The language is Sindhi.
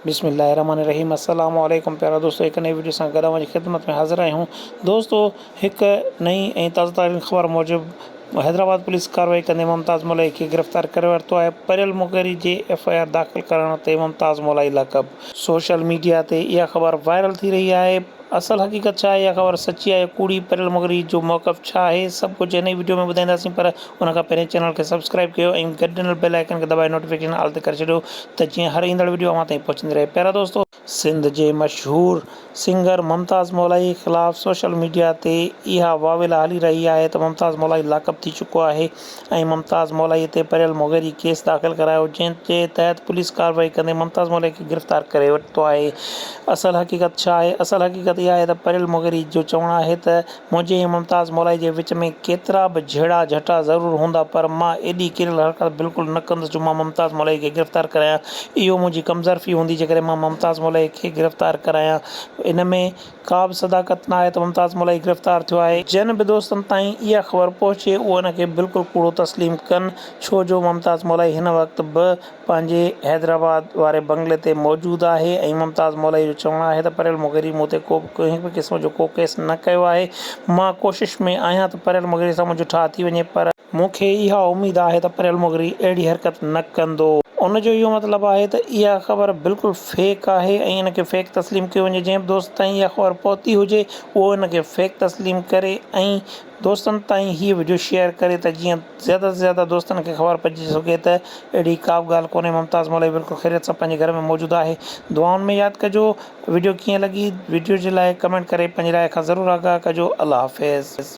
بسم الله الرحمٰن الرحيم السلام عليڪم پيارا دوستو هڪ نئين وڊيو سان گڏ اوهان جي خدمت ۾ حاضر آهيون دوستو هڪ نئين ۽ تازه ترين خبر موجب حيدرآباد پوليس ڪاروائي ڪندي ممتاز مولائي کي گرفتار ڪري ورتو آهي پريل مغيري جي ايف آء آر داخل ڪرڻ تي ممتاز مولائي لقب سوشل ميڊيا تي اها خبر وائرل ٿي رهي آهي اصل حقيقت ڇا آهي اها خبر سچي آهي يا ڪوڙي پريل مغري جو موقف ڇا آهي سڀ ڪجهه هن ئي وڊيو ۾ ٻڌائينداسين پر ان کان پهرين چينل کي سبسڪرائب ڪيو ۽ گڏ ڏنل بيل آئيڪن کي دٻائي نوٽيفڪيشن آل تي ڪري ڇڏيو ته جيئن هر ايندڙ وڊيو اوهان تائين پهچندي رهي پيارا دوستو سنڌ جي مشهور سنگر ممتاز مولائي خلاف سوشل ميڊيا تي اها واويلا هلي رهي آهي ته ممتاز مولائي لاڪ اپ ٿي چڪو آهي ۽ ممتاز مولائي تي پريل مغيري ڪيس داخل ڪرايو جنهن جي تحت پوليس ڪارروائي ڪندي ممتاز مولائي کي گرفتار ڪري ورتو آهي اصل حقيقت ڇا آهي اصل حقيقت اها آهي ته پريل مغيري جو چوڻ آهي ته منهنجي ۽ ممتاز مولائي جي وچ ۾ ڪيترا به جهيڙا جهٽا ضرور هوندا پر مان ايڏي ڪريل حرڪت بلڪل نه ڪندس جو مان ممتاز مولائي کي گرفتار ڪرايان اهو منهنجي ڪمظرفي هوندي جيڪڏهن مان ممتاز مولائي کي گرفتار ڪرايان ان ۾ ڪا به صداقت ناهي ته ممتاز ملائي گرفتار ٿيو آهي. جن به دوستن تائين اها خبر پهچي اهي ان کي بلڪل ڪوڙو تسليم ڪن ڇو جو ممتاز ملائي هن وقت به پنهنجي حيدرآباد واري بنگلي تي موجود آهي ۽ ممتاز ملائي جو چوڻ آهي ته پريل مغيري مون تي ڪو به ڪنهن به قسم جو ڪو ڪيس نه ڪيو آهي مان ڪوشش ۾ آهيان ته پريل مغيري سان منهنجو ٺاهه ٿي وڃي پر مون کي اها اميد آهي ته پريل مغري اهڙي حرڪت نه ڪندو. ان جو اهو مطلب آهي ته اها خبر بلڪل فيڪ آهي ۽ ان کي فيڪ تسليم ڪيو وڃي جنهن به دوست تائين اها خبر پهتي هجي اهو ان کي فيڪ تسليم ڪري ۽ دوستن تائين هيء وڊيو شيئر ڪري ته جيئن زياده تي زياده دوستن کي خبر پئجي سگهي ته اهڙي ڪابه ڳالهه ڪونهي ممتاز مولوي بلڪل خيريت سان پنهنجي گهر ۾ موجود آهي دعائن ۾ ياد ڪجو وڊيو ڪيئن لڳي وڊيو جي لاء ڪمينٽ ڪري پنهنجي راء کان ضرور آگاهه ڪجو الله حافظ.